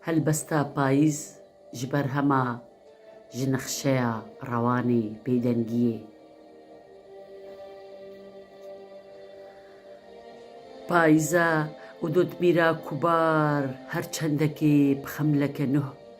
Helbesta payîz ji berhema ji nexşeya rewanê bêdengiyê. Payîza û dotmîra kubar her çendekê bi xemleke nûh.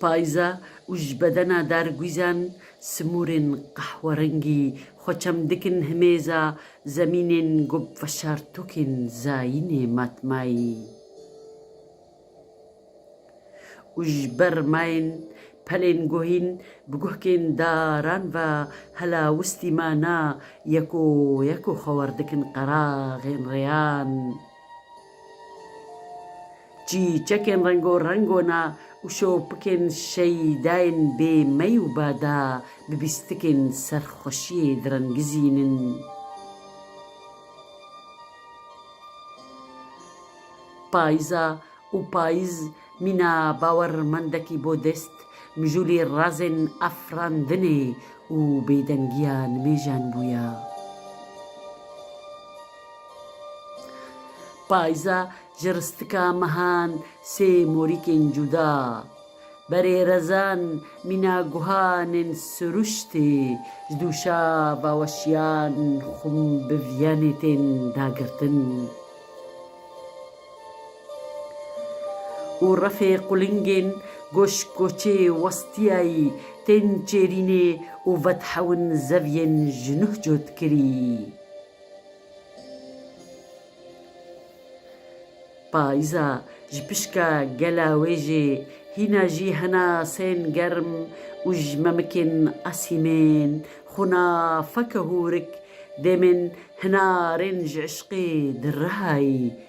Payîza û ji bedena der guîzan simûrên qehwerengî xwe çem dikin himêza zemînên ku bi veşartokên zayînê matmayî û ji ber mayên pelên guhîn bi guhkên daran ve helawistî mana yeko yeko xwe werdikin qeraxên rêyan. Çîçekên rengo-reng ona û şopikên şeydayên bê mey û bada bi bîstikên serxweşiyê direngizînin. Payîza û payîz mîna bawermendekî bo dest mijûlê razên afirandinê û bêdengiya nimêjan bûye. Payza ji ristika mehan sê morîkên cuda, berê rezan mîna guhanên siruştê ji dûşa baweşiyan xum bi viyanê tên dagirtin û refê qulingên goşk goçê westiyayî tên çêrînê û vedhewin zeviyên ji nuh cotkirî. Payîza ji pişka gela wê jî hîna jî hena sên germ û ji memikên asîmên xwina feke hûrik demên hinarên ji îşqê di rihayî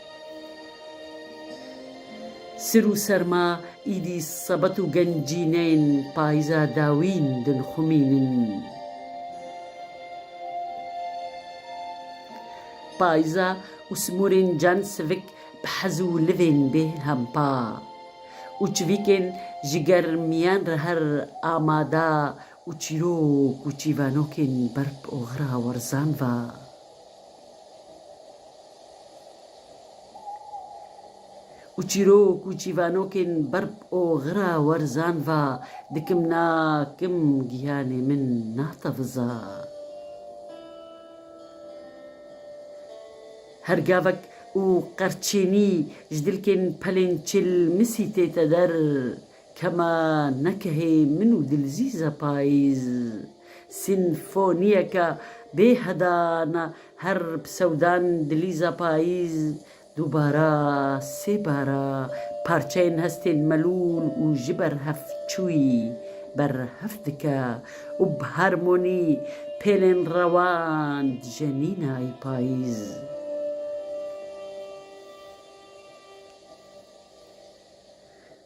Sir û serma îdî sebet û gencîneyên payîza dawîn dinxumînin. Payîza û simûrên can sivik bi hez û livên bê hempa û çivîkên ji germiyan re her amada û çîrok û çîvanokên berp û xira werzan va. Û çîrok û çîvanokên berb oxira werzan va dikim na kim giyanê min na teviza. Her gavek û qerçênî ji dilkên pelên çil misî tête der Kema nekehê min û Dilzîza Payîz. Sînfonîyeka bê hedan a her psewdan Dilîza Payîz dûbara sê bar a parçeyên hestên melûl û ji ber hev çûyî ber hev dike û bi harmonî pêlên rewan dijî Nînayî Payîz.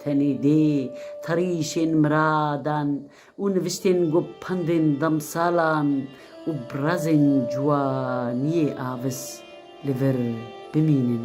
Tenê dê tarîşên miradan û niviştên ku pendên demsalan û birazên ciwaniyê avis li vir bimînin.